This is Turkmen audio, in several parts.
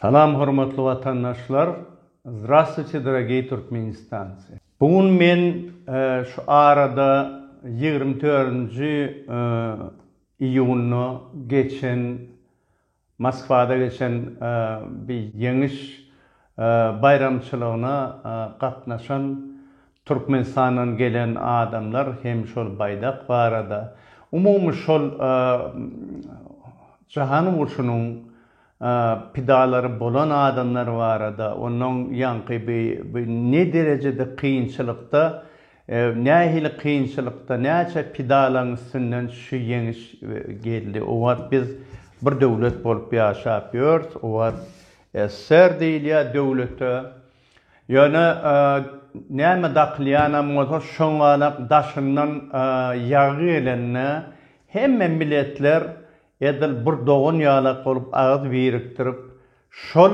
Salam hormatly watandaşlar Zdrastwuçe drageý Türkmenistanci. Bu gün men e, şu arada 24-nji e, iýunda geçen Moskwada geçen bi Ýeňiş baýramçylygyna gatnaşan Türkmenistandan gelen adamlar hem şol baýdak barada, umumy şol Jahan urşunyň pidalary bolan adamlar barada, ondan ýaňky bi ne derejede kynçylykda Nähili kynçylykda, näçe pidalaň üstünden şu ýeňiş geldi. Owat biz bir döwlet bolup ýaşap ýörs. Owat SSR diýilýär döwlete. Ýöne näme dakylýanam bolsa şoňalak daşyndan ýagy gelende hemme miletler edil bir dogan ýalak bolup agyz birikdirip şol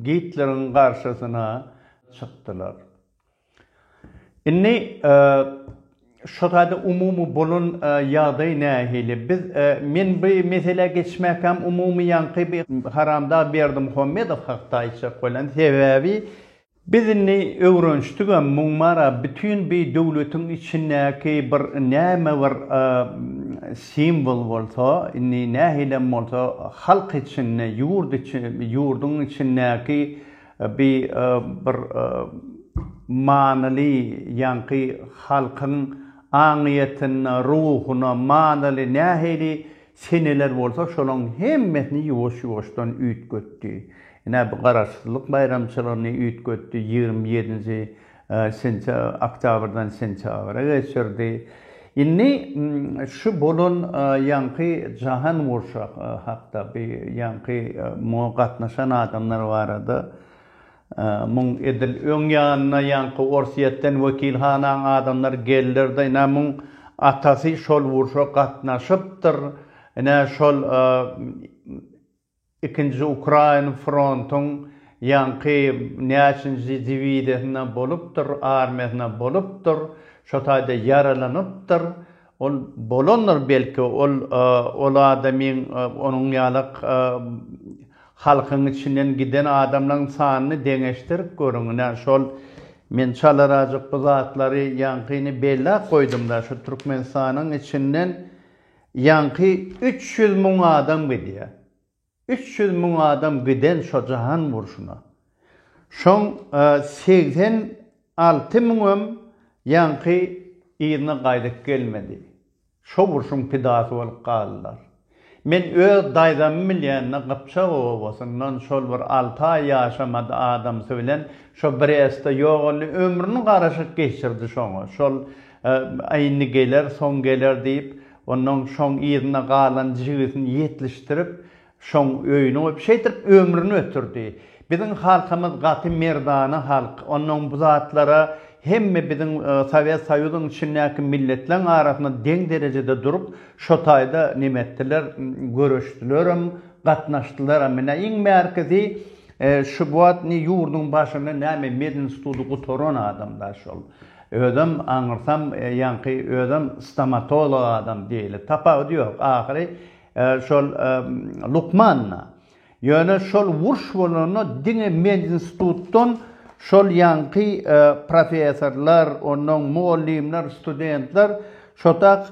Gitleriň garşysyna çykdylar. Indi şu taýda umumy bolan ýagdaý nähili? Biz men bu meselä geçmäkäm umumy ýaňky bir Haramdag Berdimuhammedow hakda aýtjak bolýan. Sebäbi biz indi öwrenişdigem muň mara bütin bu döwletiň içindäki bir näme bir simwol bolsa, indi nähilem bolsa halk içinde, ýurt içi, ýurduň içindäki Bi bir manyly ýaňky halkyň aňyýetine, ruhuna manyly nähili seneler bolsa şolaň hemmesini ýuwaş-ýuwaşdan üýtgetdi. Ine bu garaşsyzlyk baýramçylygyny üýtgetdi, ýigrimi ýedinji Sentýabrdan sentýabra geçirdi. Indi şu bolan ýaňky jahan urşy hakda bi ýaňky muňa gatnaşan adamlar barada muň edil öň ýanyna ýaňky Orsýetden wekilhanaň adamlary geldirdi. Ine muň atasy şol urşa gatnaşypdyr. Ine şol Ikinji ukrain frontuň ýaňky näçinji diwizýasynda bolupdyr, armiýasynda bolupdyr, şo taýda ýaralanypdyr. Ol bolandyr belki, ol ol adamyň onuň ýaly halkyň içinden giden adamlaň sanyny deňeşdirip görüň. Ine, şol men çalarazjyk bu zatlary ýaňky indi bellap goýdum-da, şu Türkmenistanyň içinden, Ýaňky üç ýüz müň adam gidýär. Üç ýüz müň adam giden şo jahan urşuna. Şoň segsen alty müňem ýaňky yzyna gaýdyp gelmedi. Şo urşuň pidasy bolup galdylar. Men öz daýzamy bilýände Gypjak obasyndan şol bir alty aý ýaşamady adamsy bilen şo Brestde ýogaldy ömrüni garaşyk geçirdi şoňa. Şol Aý, indi geler, soň geler diýip, onnoň şoň yzyna galan jigisini ýetlişdirip, şoň öýüni goýup, şeýdip ömrüni ötürdi. Biziň halkymyz gaty merdana halk. Onnoň bu zatlara hemme biziň Sowet Soýuzyň içindäki milletleň arasynda deň derejede durup, şo taýda neme etdiler, göreşdilerem, gatnaşdylaram. Ine, iň bärkisi şu bu wagt indi ýurduň başynda näme, medinstituty gutaran adam-da şol. Özem aňyrsam ýaňky özem stomatolog adam diýeli tapawudy ýok ahyry şol lukmanda. Ýöne şol wurş bolanda diňe medinstitutdan şol ýaňky professorlar ondan mugallymlar studentler şotak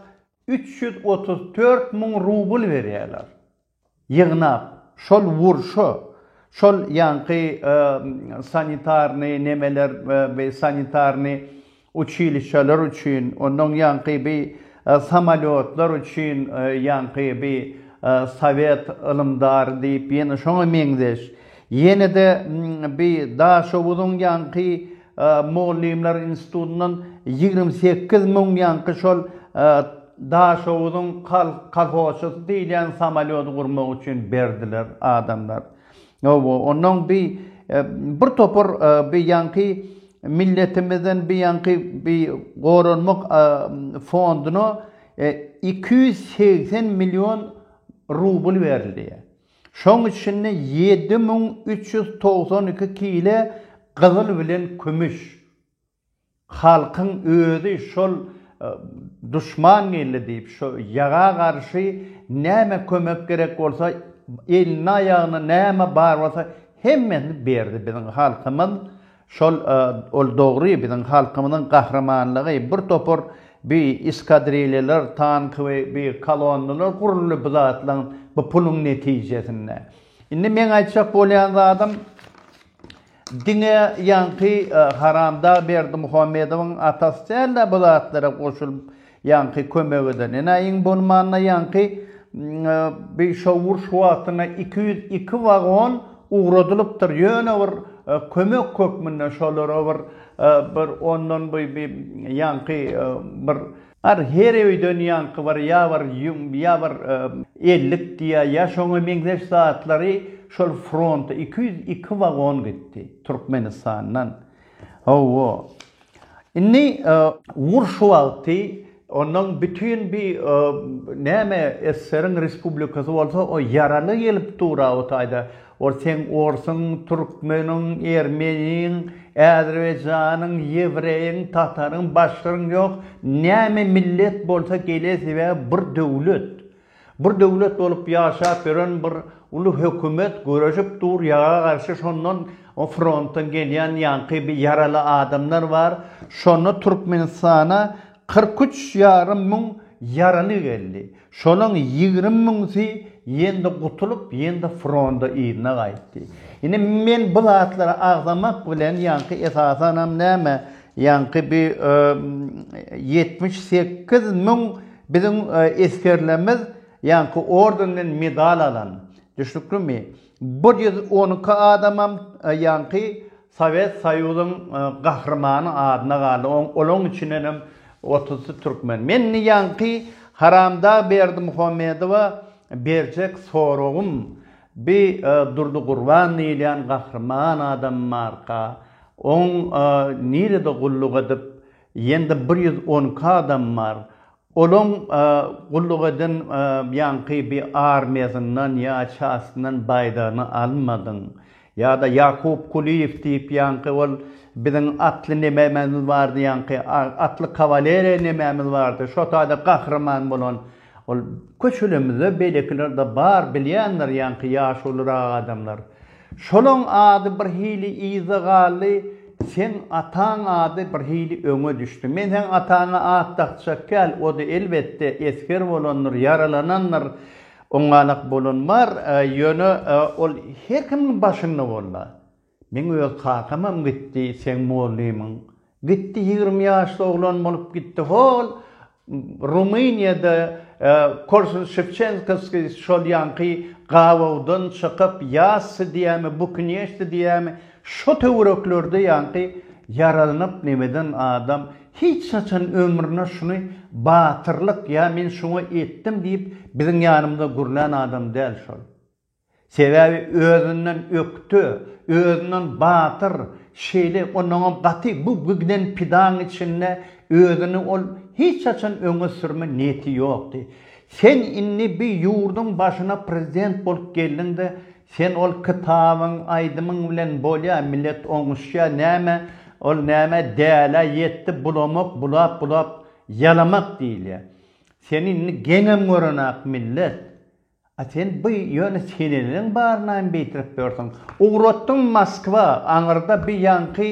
üç ýüz otuz dört müň rubl berýäler. ýygnap, şol wurşa, şol ýaňky sanitarnyý nemeler, bi sanitarnyý uçilişeler üçin, onnoň ýaňky bi samolýotlar üçin, ýaňky bi sowet ylymdary diýip, ýene şoňa meňzeş, ýene-de bi Daşoguzyň ýaňky Mugallymlar institutyndan ýigrimi sekiz müň ýaňky şol Daşoguzyň kolhozçysy diýilýän samolýody gurmak üçin berdiler adamlar. Hawa, onnoň bi bir topar bi ýaňky milletimizden bi ýaňky bi goranmak fonduna iki ýüz segsen million rubl berildi. Şoň içinde ýedi müň üç ýüz togsan iki kile gyzyl bilen kümüş. Halkyň özi şol duşman geldi diýip, şo ýaga garşy näme kömek gerek bolsa, elinde-aýagynda näme bar bolsa, hemmesini berdi biziň halkymyz. Şol ol dogry biziň halkymyzyň gahrymanlygy bir topar bi eskadrilýalar tank we bi kolonnalar guruldy bu zatlaň bu puluň netijesinde. Indi meň aýtjak bolýan zadym diňe ýaňky haramdag berdimuhammedowyň atasy dälde bu zatlara goşulyp Ýaňky kömek eden enaýyň bolmanda ýaňky bi şowur şu wagtyna iki ýüz iki wagon ugradylypdyr ýöne bir kömek hökmünde şolara bir bir ondan bi bi ýaňky bir Ar her öýden ýaňky bir ýa bir ýüň ýa bir ellik diýä ýa şoňa meňzeş zatlary şol fronta iki ýüz iki wagon gitdi türkmenistandan hawa. Indi ugur şu wagty onuň bütin bi näme SSR-iň respublikasy bolsa o ýaraly gelip dura o taýda. Ol seň orsuň, türkmeniň, ermeniň, äzerbaýjanyň, ýewreýiň, tataryň, başgaryň ýok, näme millet bolsa gele sebäbi bir döwlet. Bir döwlet bolup ýaşap ýören bir uly hökümet göreşip dur ýaga garşy şondan o frontdan gelýän ýaňky bir ýaraly adamlar bar şonda Türkmenistana kyrk üç ýarym müň ýaraly geldi şolaň ýigrimi müňsi ýende gutulyp ýende fronda yzyna gaýtdy indi men bu zatlary agzamak bilen ýaňky esasanam näme ýaňky bir ýetmiş sekiz müň Biziň esgerlerimiz ýaňky ordenden medal alan, düşnüklimi, bir ýüz on iki adamam ýaňky Sowet Soýuzyň gahrymany adyna galdy, olaň içindenem otuzsy türkmen. Men indi ýaňky haramdag Berdimuhamedowa berjek soragym, bi Durdy Gurban diýilýän gahryman adam barka, oň nirede gulluk edip, Ýende bir ýüz on iki adam bar. Olaň gulluk eden ýaňky bir armiýasyndan ýa çastyndan baýdagyny almadyň? Ýa-da Ýakup Kulyýew diýip ýaňky ol biziň atly nemämiz bardy ýaňky, atly kawaleriýa nemämiz bardy, şo taýda gahryman bolan. Ol, Köçelemizde beýlekiler-de bar, bilýändir ýaňky ýaşulyrak adamlar. Şolaň ady birhili yzda galdy, seň ataň ady birhili öňe düşdi. Men seň ataňa at dakjak däl, o-da elbetde esger bolandyr, ýaralanandyr, oňalak bolan bar, ýöne ol her kimiň başynda boldy. Meň öz kakamam gitdi seň mugallymyň. Gitdi ýigrimi ýaşly oglan bolup gitdi hol Rumyniýada Korsun Şewçenkoski şol ýaňky gabawdan çykyp ýasdy diýämi bukinýeşdi diýämi şo töwereklerde ýaňky ýaralnyp nemeden adam hiç haçan ömrüne şuny batyrlyk ýa men şuňa etdim diýip biziň ýanymyza gürlän adam däl şol. Sebäbi özünden ökde, özünden batyr, şeýle onnoňam gaty bu giden pidaň içinde özüni ol hiç haçan öňe sürme niýeti ýokdy. Sen indi bi ýurduň başyna prezident bolup geldiňde sen ol kitabyň, aýdymyň bilen bolýa, millet oňuşýa, näme ol näme dälä ýetdi bulamak, bulap bulap ýalamak diýilýä. Seni indi geňem görenak millet. A sen by ýöne seneleň barynaým beýtirip ýörsiň. Ugratdyň Moskwa, aňyrda by ýaňky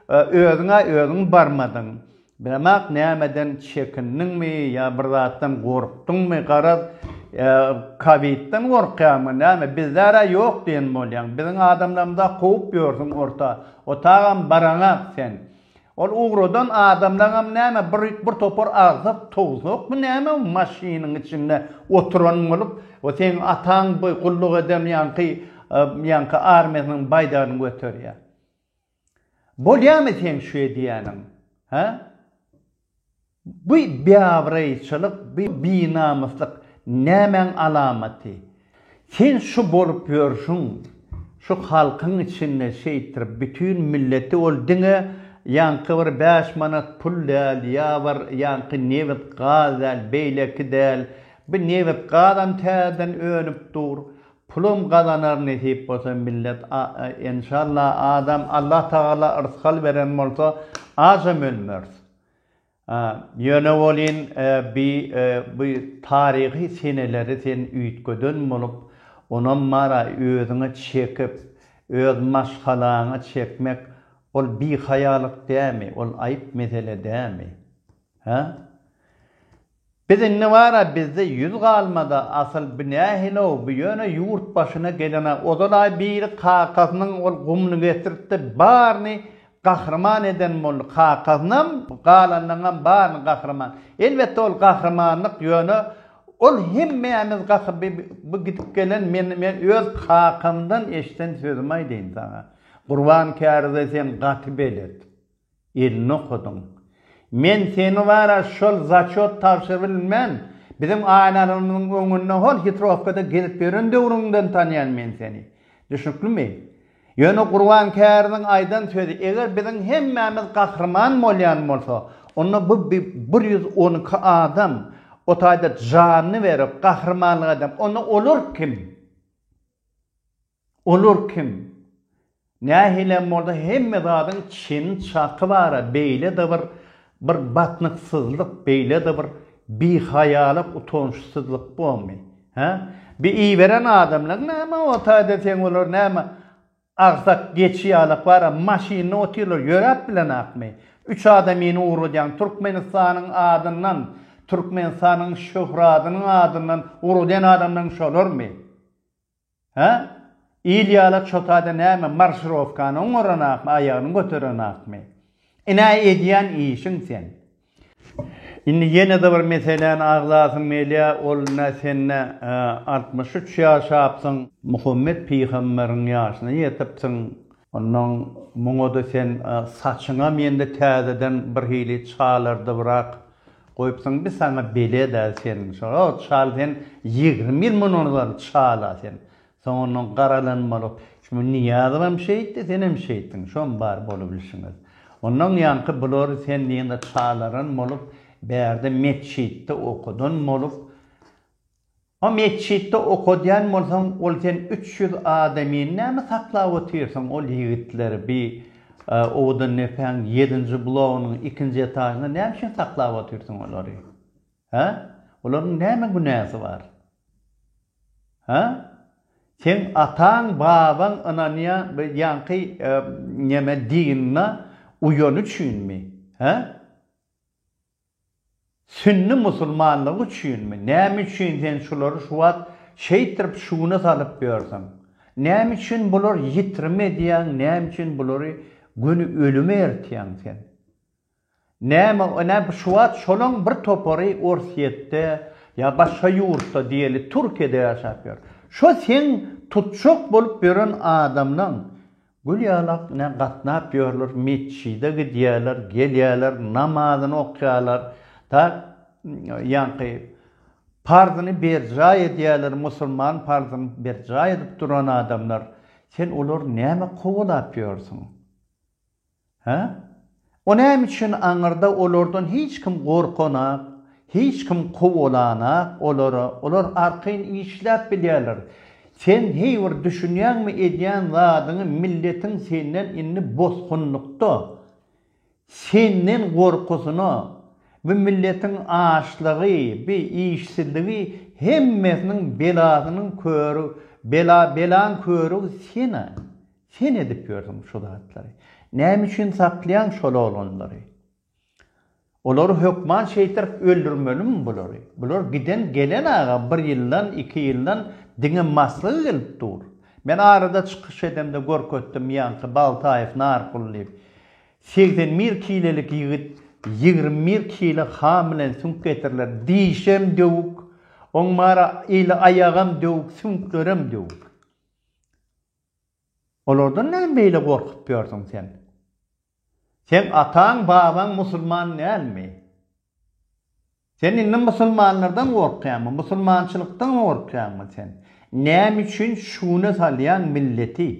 özüňä özüň barmadyň. Bilemak nämeden çekindiňmi ýa bir zatdan gorkdyňmy garaz kowidden gorkýaňmy näme bizde-ä ýok diýen bolýaň. Biziň adamlarymyza kowup ýörsiň orta otagam baraňak sen. Ol ugradan adamlagam näme bir bir topar agsak towsakmy näme maşynyň içinde oturan bolup we seň ataň bu gulluk eden ýaňky ýaňky armiýasynyň baýdagyny göterýär. Bolýamy seň şu edýäniň? Hä? Bu biabraýçylyk, bu binamyslyk nämäň alamaty? Sen şu bolup ýörşüň, şu halkyň içinde şeýtdirip bütin milleti ol diňe ýaňky bir bäş manat pul däl, ýa bir ýaňky nebit, gaz däl, beýleki däl. Bu nebit, gazam täzeden önüp dur. Pulam gazanar nesip bolsa millet enşalla adam Allatagala rysgal beren bolsa acam ölmeris. Ýöne welin bi bu taryhy seneleri sen üýtgeden bolup, onam bara özüňe çekip, öz maşgalaňa çekmek, ol bihaýalyk dämi, ol aýyp mesele dämi? Hä? Biz indi bar-a bizde ýüz galmada asyl bu nähili-ow bu ýöne ýurt başyna gelen-a ozal-a biri kakasynyň ol gumny getirtdi baryny gahryman eden boldy kakasynam galanlaryňam baryny gahryman elbetde ol gahrymanlyk ýöne ol hemmämiz gahry bi bu gidip gelen men men öz kakamdan eşden sözümi aýdaýyn saňa Gurban käride sen gaty belet Elini okadyň. Men seni bara şol zaçot tabşyr bilmän, biziň aýnalarymyzyň öňünde hol hitrowkada gezip ýören döwrüňden tanýan men seni. Düşnüklimi? Ýöne Gurban käriniň aýdan sözi, eger biziň hemmämiz gahryman bolýan bolsa, onda bu bir ýüz on iki adam o taýda janyny berip, gahrymanlyk edip, onda olar kim? Olar kim? Nähilem bolsa hemme zadyň çyn çaky bara beýlede bir bir batnyksyzlyk beýlede bir bihaýalyk utançsyzlyk bormy? Hä? Bi iberen adamlaň näme o taýda seň olar näme agsak geçi ýalak bara maşynda otyrlar ýöräp bilenakmy? Üç adamyny ugradýaň türkmenistanyň adyndan türkmenistanyň şöhradynyň adyndan ugradýan adamlaň şolarmy? Hä? Il ýala çotada näme marşirowkany oňaranakmy, aýagyny göterenakmy? Ine edýän işiň sen. Indi ýene-de bir meseläni agzasym gelýä, ol ine sen-ä altmyş üç ýaşapsyň. Muhammet pygamberiň ýaşyna ýetipsiň. Onnoň muňa-da sen saçyňam ýene-de täzeden birhili çalardybrak goýupsyň, bi saňa belet-ä sen. Şo-o çal sen ýigrimi ýyl mundan ozal çal-a sen. Soň onnoň garalanmalyk. Şu bu Nyýazowam şeýtdi, senem şeýtdiň. Şom bar bolubilşiňiz. Onnoň ýaňky bulary sen diýende çalaran bolup, bärde metjitde okudan bolup, O metjitde okadýan bolsaň ol sen üç ýüz adamyny näme saklap otyrsyň ol ýigitleri bi owadan depäň ýedinji blogynyň ikinji etažynda näme üçin saklap otyrsyň olary hä olaryň näme günäsi bar hä seň ataň babaň ynanýan bi ýaňky neme dinine uýany üçinmi hä Sünni musulmanlygy üçinmi? Näme üçin sen şulary şu wagt şeýtrip şuguna salyp ýörsiň? Näme üçin bular ýitrim edýäň, näme üçin bulary göni ölüme ertýäň sen? Näme näme bu şu wagt şolaň bir topary Orsýetde ýa başga ýurtda diýeli Türkiýede ýaşap ýör. Şo seň tutjak bolup ýören adamlaň Gül ýalak ne gatnap ýörler metjide gidýäler gelýäler namazyny okýalar da ýaňky parzyny berjaý edýäler musulman parzyn berjaý edip duran adamlar sen olary näme kowalap ýörsüň. Hä? O näme üçin aňyrda olardan hiç kim gorkanak, hiç kim kowalanak olary, olar arkaýyn işläp bilýärler. Sen heý bir düşünýäňmi edýän zadyňy milletiň senden indi bosgunlykda, senden gorkusyna, bu milletiň açlygy, bi işsizligi hemmesiniň belasynyň köri, bela belaň körügi sen-ä. Sen edip ýörsüň şu zatlary. Näme üçin saklaýaň şol oglanlary? Olary hökman şeýtdirip öldürmelimi bulary? Bular giden gelen aga bir ýyldan, iki ýyldan diňe maslygy gelip dur. Men arada çykyş edemde görkezdim ýaňky Baltaýew Narkul diýip. Segsen bir kilelik ýigit ýigrimi bir kile han bilen süňk getiriler. Dişem döwük, oň mara eli aýagam döwük, süňklerem döwük. Olardan näme beýle gorkup ýörsüň sen? Seň ataň, babaň musulman dälmi? Sen indi musulmanlardan gorkýaňmy? Musulmançylykdan gorkýaňmy sen? Näme üçin şu güne salýaň milleti?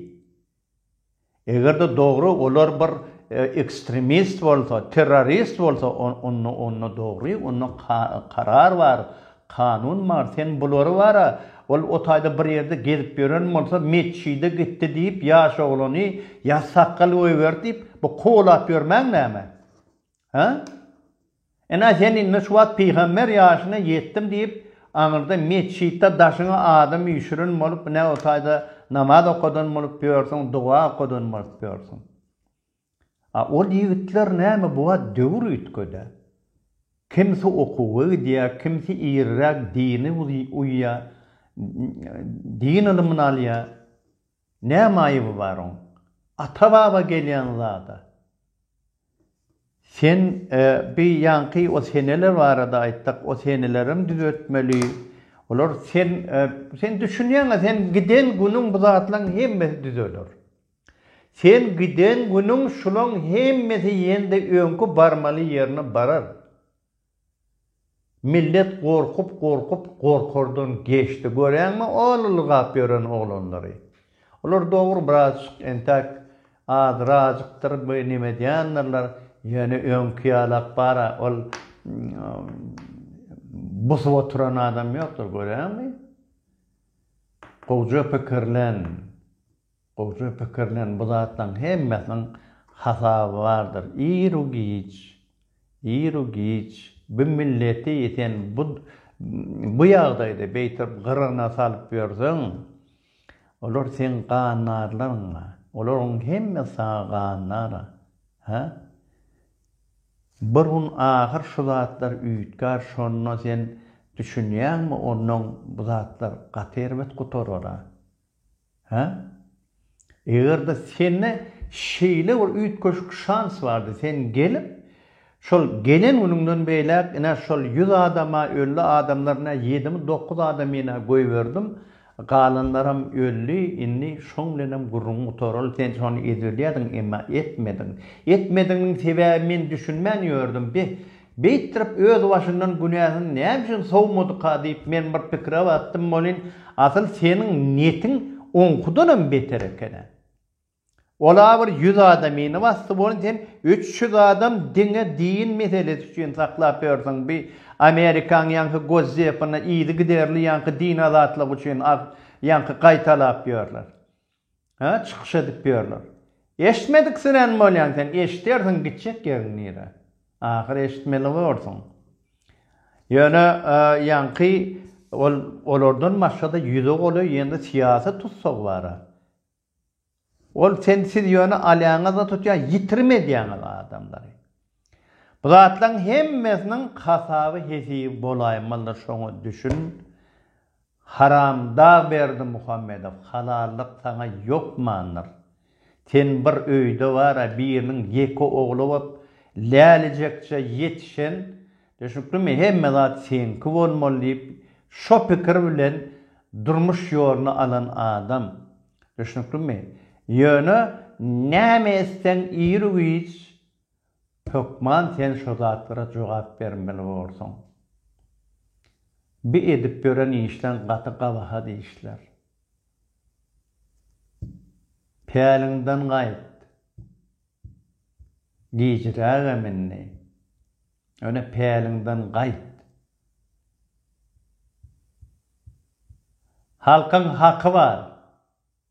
Eger-de dogry olar bir ekstremist bolsa, terrorist bolsa, onda dogry, onda karar bar. Kanun bar sen bulary bara ol otaýda bir ýerde gezip ýören bolsa metjide gitdi diýip ýaş oglany ýa sakgal goýberdi diýip bu kowalap ýörmäň näme hä ene sen indi şu wagt pygamber ýaşyna ýetdim diýip aňyrda metjitde daşyňa adam üýşüren bolup nä otaýda namaz okadan bolup ýörsiň doga okadan bolup ýörsiň. A ol ýigitler näme bu wagt döwür üýtgedä. Kimsi okuwa gidýä, kimsi iriräk dini uýýa, din ylymyny alýa. Näme aýyby bar oň? Ata-baba gelýän zada. Sen bi ýaňky o seneler barada aýtsak, o senelerem düzetmeli. Olar sen sen düşünýäňä sen giden günüň bu zatlaň hemmesi düzeler. Sen giden günüň şulaň hemmesi ýene-de öňki barmaly ýerine barar. Millet gorkup-gorkup gorkardan geçdi. Göräňmi o ylgap ýören oglanlary. Olar dogry birazjyk entäk azrajykdyr bir neme edýändirler, ýöne öňki ýalak bar-a ol busup oturan adam ýokdur. Göräňmi? Gowja pikirlen. Gowja pikirlen, bu zatlaryň hemmesiniň hasaby bardyr. Ir-u giç, ir-u giç bu milleti sen bu, bu ýagdaýda beýtip gyrygyna salyp ýörseň, olar seň gannarlaryň-a, olaryň hemmesi saňa gannara. Hä? Bir gün ahyr şu zatlar üýtgär, şonda sen düşünýäňmi, ondan bu zatlar gaty erbet gutarar-a. Hä? Eger-de sende şeýle bir üýtgeşik şans bardy, sen gelip, şol gelen günüňden beýläk, ine, şol ýüz adama, öldi adamlar, ine, ýedimi, dokuz adamyny goýberdim, galanlaram öldi, indi şoň bilenem gürrüňi gutaraly, sen şony edip bilýärdiň, emma etmediň. Etmediginiň sebäbi men düşünmän ýördüm, beh, Beýtdirip özbaşyndan günäsiz näme üçin sowmadyka diýip men bir pikire batdym welin asyl seniň netiň oňkudanam beter ekena. Ola bir ýüz adamyny basdy welin sen üç ýüz adam diňe din meselesi üçin saklap ýörsüň bi amerikaň ýaňky gozzepini yzygiderli ýaňky din azatlygy üçin ýaňky gaýtalap ýörler. Hä çykyş edip ýörler. Eşitmediksirän bolýaň sen eşidersiň gitjek ýeriň nire. Ahyr eşitmeli borsuň. Ýöne ýaňky ol olardan başgada ýüze goly ýene syýasy tussag bara. Ol sen siz ýöne alýaňyzda tutýa ýitirim edýäňiz adamlary. Bu zatlaň hemmesiniň hasaby hesibi bolaýmalydyr şoňa düşün. Haramdag Berdimuhamedow halallyk saňa ýokmandyr. Sen bir öýde bara biriniň ýeke ogly bolup lälijekje ýetişen düşnüklimi hemme zat seňki bolmaly diýip şo pikir bilen durmuş ýoluny alan adam düşnüklimi ýöne näme etseň iri güýç Hökman sen şo zatlara jogap bermeli borsuň. Bi edip ýören işleň gaty gabahat işler. Päliňden gaýt. Gijirägem indi. Ýöne päliňden gaýt. Halkyň haky bar.